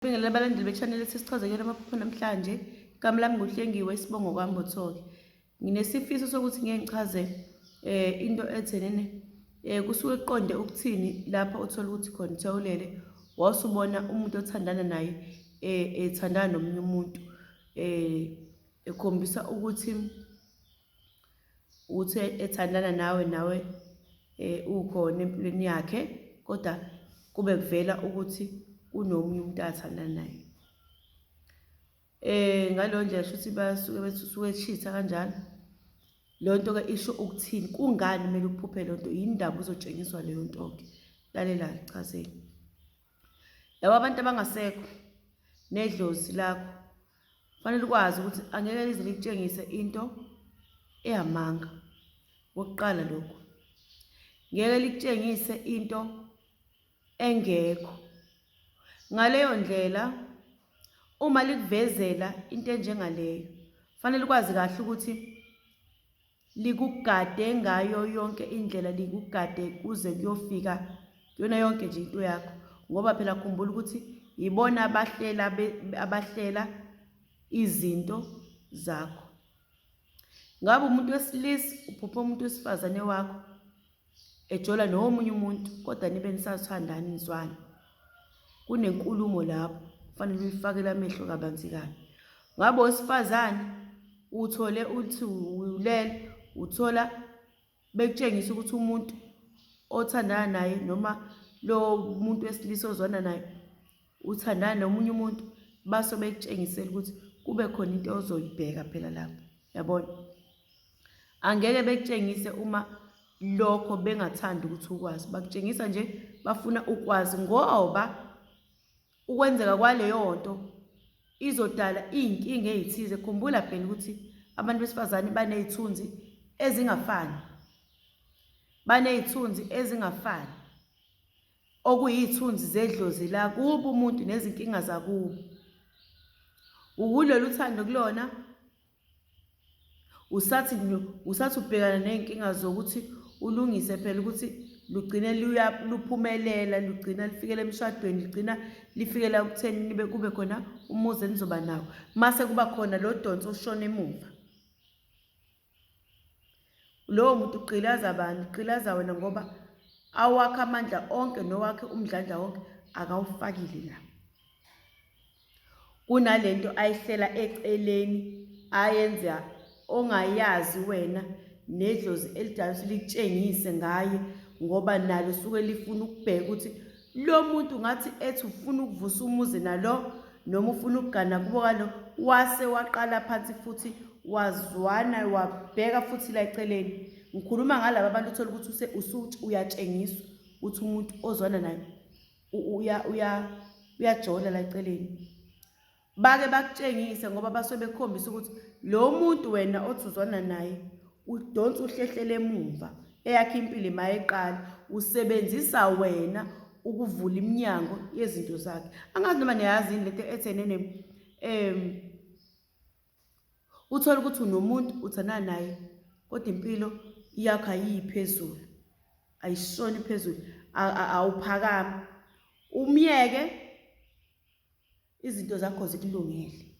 Ngibingelela abalandeli be-channel esisichaze kuyona amaphupho namhlanje. Igama lami nguHlengiwe Isibongo Kwambothoke. Nginesifiso sokuthi ngeke ngichaze eh into ethenene eh kusuke kuqonde ukuthini lapha uthola ukuthi khona uthewulele wasubona umuntu othandana naye eh ethandana nomunye umuntu eh ekhombisa ukuthi ukuthi ethandana nawe nawe eh, ukhona empilweni yakhe kodwa kube kuvela ukuthi kunomunye umuntu athandana naye eh ngalo ndlela shuthi basuke besuke echitha kanjalo lonto ke isho ukuthini kungani kumele uphuphe lonto yini indaba uzotshengiswa leyo nto ke lalela chazeni Laba abantu abangasekho nedlozi lakho fanele ukwazi ukuthi angeke lize likutshengise into eyamanga kokuqala lokhu ngeke likutshengise into engekho ngaleyo ndlela uma likuvezela into enjengaleyo fanele ukwazi kahle ukuthi likugade ngayo yonke indlela likugade kuze kuyofika yona yonke nje into yakho ngoba phela khumbula ukuthi yibona abahlela abahlela izinto zakho ngabe umuntu wesilisa uphupha umuntu wesifazane wakho ejola nomunye umuntu kodwa nibe nisathandani nizwane kunenkulumo lapho kufanele uyifakele amehlo kabanzi kabi ngabe wesifazane uthole uthi ulele uthola bekutshengisa ukuthi umuntu othandana naye noma lo muntu wesilisa ozwana naye uthandana nomunye umuntu baso bekutshengisela ukuthi kube khona into ozoyibheka phela lapho yabona angeke bekutshengise uma lokho bengathanda ukuthi ukwazi bakutshengisa nje bafuna ukwazi ngoba ukwenzeka kwaleyo nto izodala iy'nkinga ey'thize khumbula phela ukuthi abantu besifazane baney'thunzi ezingafani baney'thunzi ezingafani okuyithunzi zedlozi lakubo umuntu nezinkinga zakubo ukulolu thando kulona usathi usathi ubhekana nezinkinga zokuthi ulungise phela ukuthi lugcine luphumelela lugcina lifikela emshadweni ligcina lifikela kutheni nibe kube khona umuzi enizoba nawo mase kuba khona lo donsi oshona emuva Lowo muntu ugqilaza bani? Ugqilaza wena ngoba awakhe amandla onke nowakhe umdlandla wonke akawufakile la. Kunale nto ayihlela eceleni ayenza ongayazi wena nedlozi elidala ukuthi likutshengise ngaye ngoba nalo suke lifuna ukubheka ukuthi Lo muntu ngathi ethi ufuna ukuvusa umuzi nalo noma ufuna ukugana kubo kalo wase waqala phansi futhi wazwana wabheka futhi la eceleni ngikhuluma ngalaba bantu uthola ukuthi usuthi uyatshengiswa ukuthi umuntu ozwana naye uyajola la eceleni bake bakutshengise ngoba basuke bekukhombisa ukuthi lo muntu wena othi uzwana naye udonsa uhlehlele emuva eyakhe impilo mayeqala usebenzisa wena ukuvula iminyango yezinto zakhe angazi noma niyazi yini lento ethenene um uthole ukuthi unomuntu uthana naye kodwa impilo yakho ayiyiphezulu ayishoni phezulu awuphakami umyeke Izinto zakho zikulungele.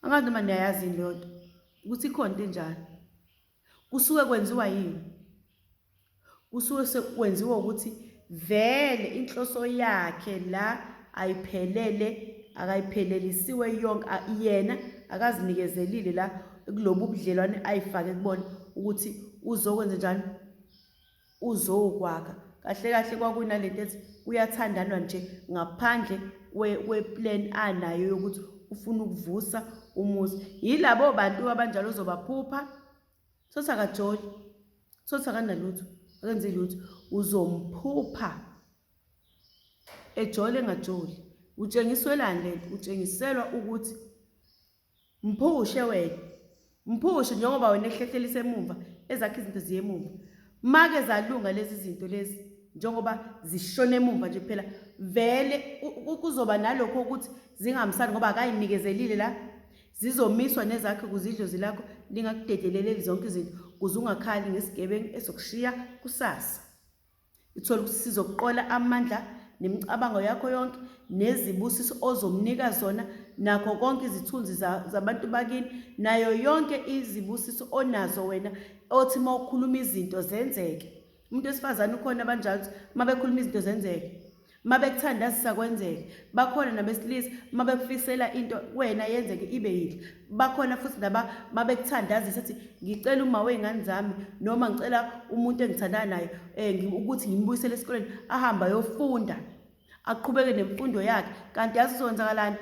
Angazi noma niyayazi yini leyo nto ukuthi ikhona into enjalo. Kusuke kwenziwa yini? Kusuke sekwenziwa ukuthi vele inhloso yakhe la ayiphelele akayiphelelisiwe yonke yena akazinikezelile la kulobu budlelwane ayifake kubona ukuthi uzokwenza njani uzokwakha kahle kahle kwakunalento ethi kuyathandanwa nje ngaphandle kweplan anayo yokuthi ufuna ukuvusa umuzi yilabo bantu abanjalo uzobaphupha sothi akajoli sothi akanalutho akenzi lutho uzomphupha ejole engajoli utshengiswelani lento utshengiselwa ukuthi mphushe wena mphushe njengoba wena ehlehleliswa emumva ezakhe izinto ziye emumva make zalunga lezi zinto lezi njengoba zishona emumva nje phela vele kuzoba nalokho ukuthi zingamsani ngoba akayinikezelile la zizomiswa nezakhe ukuze idlozi lakho lingakudedeleleli zonke izinto kuze ungakhali ngesigebengu esokushiya kusasa Ithola ukuthi sizokuqola amandla nemicabango yakho yonke nezibusiso ozomnika zona nakho konke izithunzi zabantu bakini nayo yonke izibusiso onazo wena othi uma ukhuluma izinto zenzeke umuntu wesifazane ukhona abanjalo uma bekhuluma izinto zenzeke uma bekuthandazisa kwenzeke bakhona nabesilisa uma bekufisela into wena yenzeke ibe yinhle bakhona futhi naba uma bekuthandazisa ethi ngicela uma wey'ngane zami noma ngicela umuntu engithandana naye um ukuthi ngimbuyisele esikoleni ahambe ayofunda aqhubeke nemfundo yakhe kanti yazi uzokwenzakalani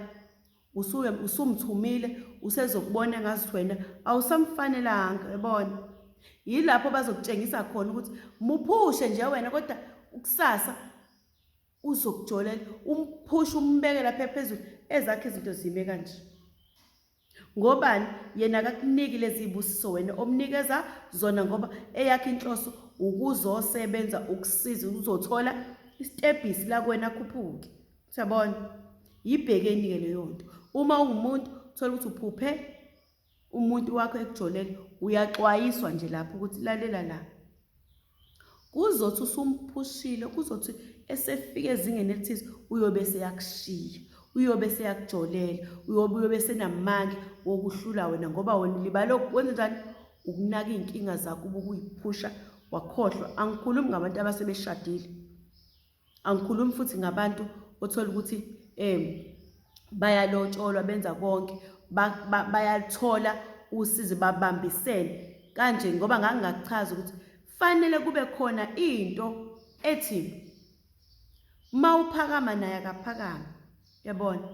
usuke usumthumile usezokubona ngazi wena awusamfanelanga yabona yilapho bazokutshengisa khona ukuthi muphushe nje wena kodwa ukusasa uzokujolela umphushe umbeke lapha phezulu ezakhe izinto zime kanje ngobani yena akakuniki lezi busiso wena omnikeza zona ngoba eyakhe inhloso ukuzosebenza ukusiza uzothola isitebhisi lakwena khuphuke Siyabona? Yibhekeni-ke leyo nto. Uma ungumuntu uthola ukuthi uphuphe umuntu wakho ekujolele, uyaxwayiswa nje lapho ukuthi lalela la. Kuzothi usumphushile, kuzothi esefika ezingeni elithize uyobe seyakushiya. Uyobe seyakujolela, uyobe uyobe senamandla wokuhlula wena ngoba wena ulibala ukwenza njani? Ukunaka izinkinga zakho ubukuyiphusha wakhohlwa. Angikhulumi ngabantu abasebeshadile. angikhulumi futhi ngabantu othola ukuthi um bayalotsholwa benza konke bayaluthola usizi babambisene kanje ngoba ngangingakuchaza ukuthi fanele kube khona into ethi mawuphakama naye akaphakama yabona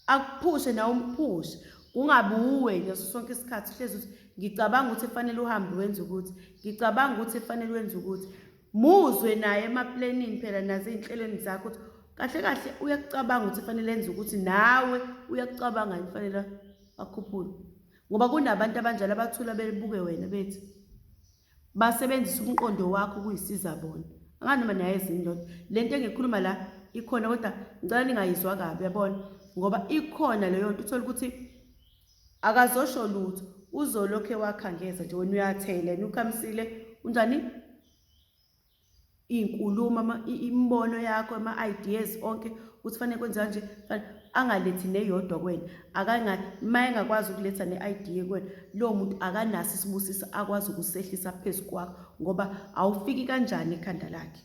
akuphushe nawe umphushe kungabi uwe ngaso sonke isikhathi uhlezi ukuthi ngicabanga ukuthi kufanele uhambe wenze ukuthi ngicabanga ukuthi kufanele wenze ukuthi muzwe naye emaplanini phela nazo ezinhlelweni zakho ukuthi kahle kahle uyakucabanga ukuthi kufanele enze ukuthi nawe uyakucabanga kufanele akhuphule ngoba kunabantu abanjalo abathula bebuke wena bethi basebenzisa umqondo wakho ukuyisiza bona angani noma niyayizini ndoda le nto engikhuluma la ikhona kodwa ngicela ningayizwa kabi yabona ngoba ikhona leyo nto uthole ukuthi akazosho lutho uzolokhu ewakhangeza nje wena uyathela yena ukhamisile unjani iy'nkulumo imibono yakho ama-ideas onke ukuthi fanele kwenziwa nje angalethi neyodwa kwena uma engakwazi ukuletha ne-idea kwena lowo muntu akanaso isibusiso akwazi ukusehlisa phezu kwakho ngoba awufiki kanjani ekhanda lakhe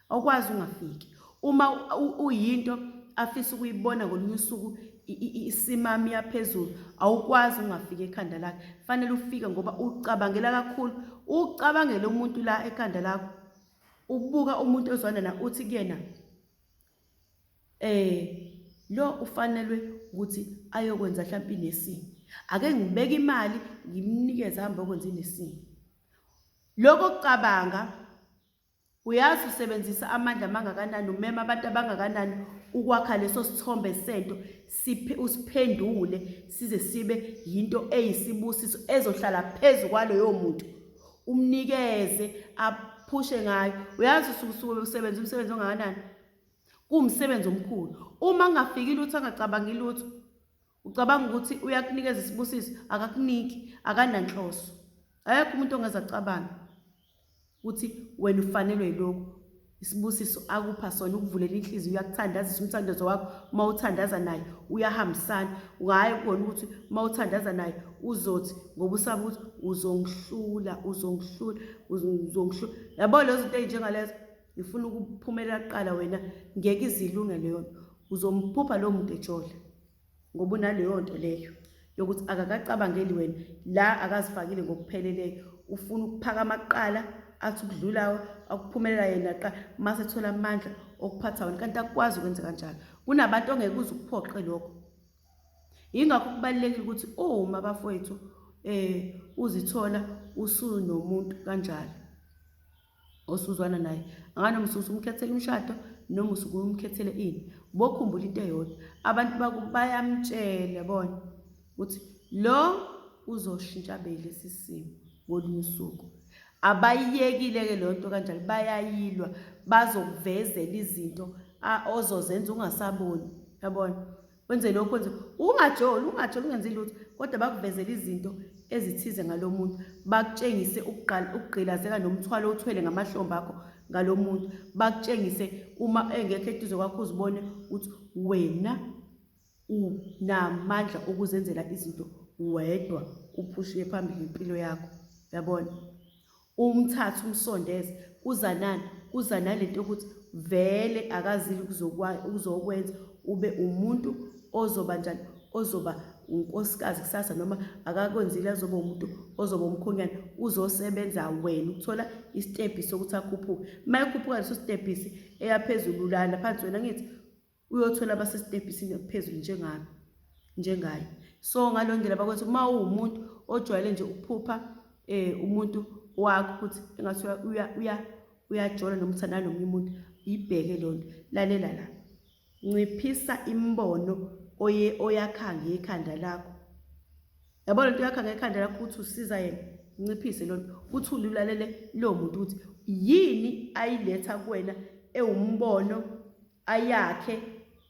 awukwazi ungafiki uma uyinto afisa ukuyibona ngolunye usuku isimama iyaphezulu awukwazi ungafika ekhanda lakhe fanele ufike ngoba ucabangela kakhulu ucabangela umuntu la ekhanda lakho ubuka umuntu ozwana na uthi kuyena eh lo ufanelwe ukuthi ayokwenza mhlawumbe inesini ake ngibeke imali ngimnikeze hamba okwenza inesini lokho kucabanga Uyazi usebenzisa amandla amangakanani, umema abantu abangakanani ukwakha leso sithombe sento, usiphendule size sibe yinto eyisibusiso ezohlala phezu kwaloyo muntu, umnikeze aphushe ngayo. Uyazi usukusuke usebenza umsebenzi ongakanani? Kuwumsebenzi omkhulu. Uma kungafikile lutho angacabangi lutho, Ucabanga ukuthi uyakunikeza isibusiso, akakuniki, akananhloso. Akekho umuntu ongeza cabanga ukuthi wena ufanelwe yilokhu. Isibusiso akupha sona ukuvulela inhliziyo uyakuthandazisa umthandazo wakho uma uthandaza naye uyahambisana ungaye kubona ukuthi uma uthandaza naye uzothi ngoba usaba ukuthi uzongihlula uzongihlula uzongihlula yabo lezo zinto ezinjengalezo ngifuna ukuphumelela kuqala wena ngeke izilunge leyo nto uzomphupha lowo muntu ejola ngoba unaleyo nto leyo yokuthi akakacabangeli wena la akazifakile ngokupheleleyo ufuna ukuphakama kuqala athi ukudlulawo akuphumelela yena qa mase ethola amandla okuphatha wena kanti akukwazi ukwenza kanjalo kunabantu ongeke uze ukuphoqe lokho yingakho kubalulekile ukuthi uma bafowethu um uzithola usunomuntu kanjalo osuzwana naye anganomsusa usukumkhethela umshado noma usukumkhethele ini bokhumbula into eyodwa abantu bakubo bayamtshela bona ukuthi lo uzoshintsha bele sisimo ngolunye usuku abayiyekile-ke leyo nto kanjalo bayayilwa bazokuvezela izinto ozozenza ungasaboni yabona wenze lokhu wenze ungajoli ungajoli ungenzi lutho kodwa bakuvezela izinto ezithize ngalo muntu bakutshengise ukugqilazeka nomthwalo othwele ngamahlombe akho ngalo muntu bakutshengise uma engekho eduze kwakho uzibone ukuthi wena unamandla okuzenzela izinto wedwa uphushiwe phambili impilo yakho yabona Umthatha umsondeze kuZanani kuza nalento yokuthi vele akazile ukuzokwenza ube umuntu ozoba njani ozoba unkosikazi kusasa noma akakwenzile azoba umuntu ozoba umkhonyana uzosebenza wena ukuthola isitebhisi sokuthi akhuphuke uma ekhuphuka leso sitebhisi eyaphezulu lana phansi wena ngithi uyothola abasesitebhisini okuphezulu njengami njengaye so ngaleyo ndlela bakwenza uma uwumuntu ojwayele nje ukuphupha um umuntu wakho ukuthi engathi uyajola noma uthandana nomunye umuntu yibheke leyo nto lalela la nciphisa imibono oye oyakha ngekhanda lakho yabo le nto yakha ngekhanda lakho ukuthi usiza yena nciphise leyo nto ukuthi ulilalele lowo muntu ukuthi yini ayiletha kuwena ewumbono ayakhe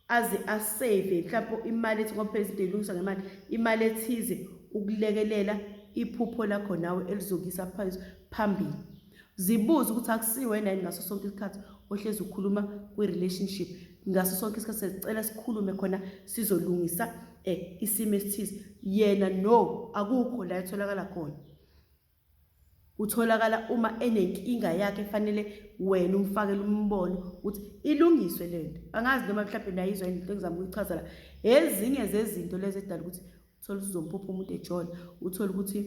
aze asave mhlawumbe imali ethi ngoba phela izinto eyilungisa ngemali imali ethize ukulekelela iphupho lakho nawe elizokisa phansi phambili zibuze ukuthi akusiwena yini ngaso sonke isikhathi ohlezi ukhuluma kwi-relationship ngaso sonke isikhathi sicela sikhulume khona sizolungisa um isimo esithize yena no akukho la etholakala khona Utholakala uma enenkinga yakhe efanele wena umfakele umbono ukuthi ilungiswe le nto. Angazi noma mhlawumbe nayizwa into engizama ukuyichaza la. Ezinye zezinto lezi edala ukuthi uthole ukuthi uzomphupha umuntu ejola, uthole ukuthi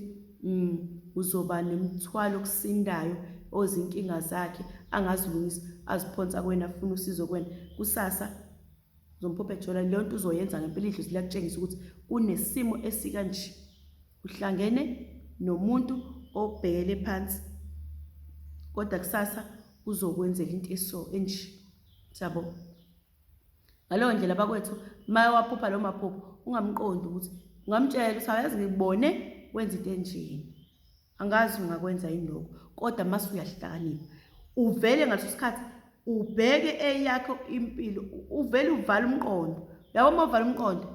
mm, uzoba nemithwalo okusindayo ozinkinga zakhe angazilungisa aziphonsa kwena afuna usizo kwena kusasa Zompophe Jola leyo nto uzoyenza ngempela idlozi liyakutshengisa ukuthi kunesimo esikanje uhlangene nomuntu obhekele phansi kodwa kusasa uzokwenzela into eso enje siyabo ngaleyo ndlela bakwethu maye waphupha lo maphupho ungamqondi ukuthi ungamtshela ukuthi awayazi ngibone wenza into enjeni angazi ungakwenza yini lokho kodwa mase uyahlakanipha uvele ngaleso sikhathi ubheke eyakho impilo uvele uvale umqondo yabo uma uvale umqondo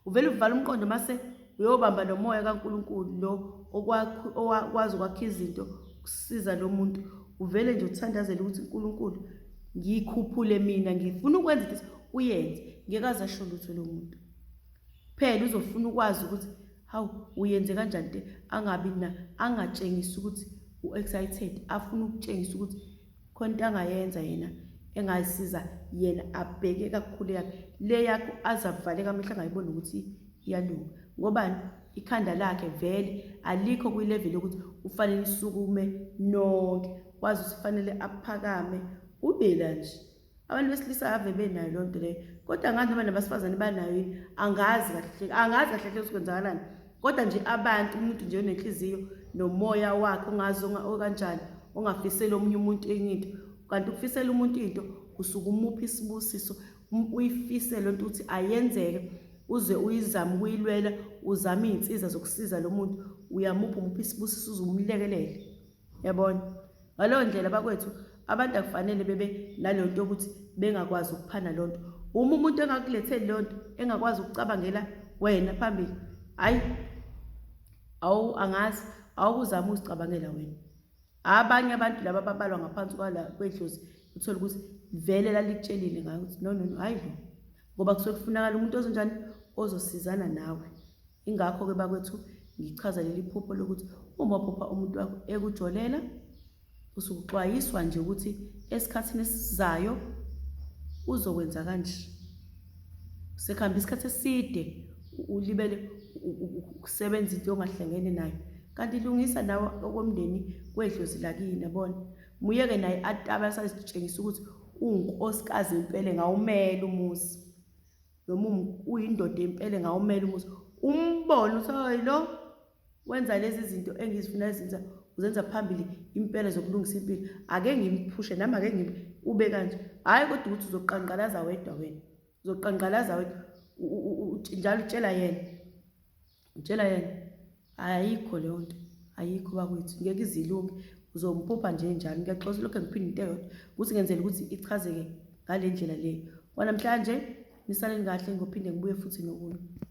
uvele uvale umqondo mase uyobamba nomoya kaNkuluNkulu lo okwazi ukwakha izinto kusiza lo muntu uvele nje uthandazele ukuthi uNkuluNkulu ngikhuphule mina ngifuna ukwenza ukuthi uyenze ngeke aze asho lutho lo muntu phela uzofuna ukwazi ukuthi Hawu, uyenze kanjani te angabi na angatshengisi ukuthi u-excited afuna ukutshengisa ukuthi khona into angayenza yena engayisiza yena abheke kakhulu yakhe le yakho azavaleka amehla angayiboni ukuthi iyalunga ngobani ikhanda lakhe vele alikho kwi-level yokuthi ufanele isukume nonke wazi usifanele aphakame ubela nje abantu besilisa ave benayo loo nto leyo kodwa ngazi noma nabasifazane banayo yini angazi kahle angazi kahle hle ukuthi kwenzakalani kodwa nje abantu umuntu nje onenhliziyo nomoya wakhe ongazi okanjani ongafiseli omunye umuntu enye into kanti ukufisela umuntu into usuke umuphi isibusiso uyifise loo nto ukuthi ayenzeke uze uyizame ukuyilwela uzame iy'nsiza zokusiza lo muntu uyamuphi umuphi isibusiso uze umlekelele yabona ngaleyo ndlela bakwethu abantu akufanele bebe naleyo nto yokuthi bengakwazi ukuphana loo nto uma umuntu engakuletheli loo nto engakwazi ukucabangela wena phambili hhayi awu angazi awukuzama uzicabangela wena abanye abantu laba babalwa ngaphansi kwala kwedlozi uthole ukuthi vele lalikutshelile ngayo ukuthi no no no hhayi lo ngoba kusuke kufunakala umuntu ozonjani ozosizana nawe ingakho-ke bakwethu ngichaza leli phupho lokuthi uma uphupha umuntu wakho ekujolela usuke uxwayiswa nje ukuthi esikhathini esizayo uzokwenza kanje sekuhamba isikhathi eside ulibele ukusebenza into ongahlangene nayo kanti lungisa nawe okomndeni kwedlozi lakini yabona Muyeke naye atabe asazitshengisa ukuthi uwunkosikazi empele ngawumela umuzi. Noma uyindoda empele ngawumela umuzi. Umbone ukuthi hayi lo wenza lezi zinto engizifuna ezinza uzenza phambili impela zokulungisa impilo. Ake ngimphushe nami ake ngim ube kanje. Hayi kodwa ukuthi uzoqanqalaza wedwa wena. Uzoqanqalaza wedwa njalo utshela yena. Ngitshela yena ayikho leyo nto ayikho bakwethu ngeke izilunge uzompupha nje njalo ngiyaxosa lokho ngiphinde into eyodwa ukuthi ngenzela ukuthi ichazeke ngale ndlela le kwanamhlanje nisaleni kahle ngophinde ngibuye futhi nokunye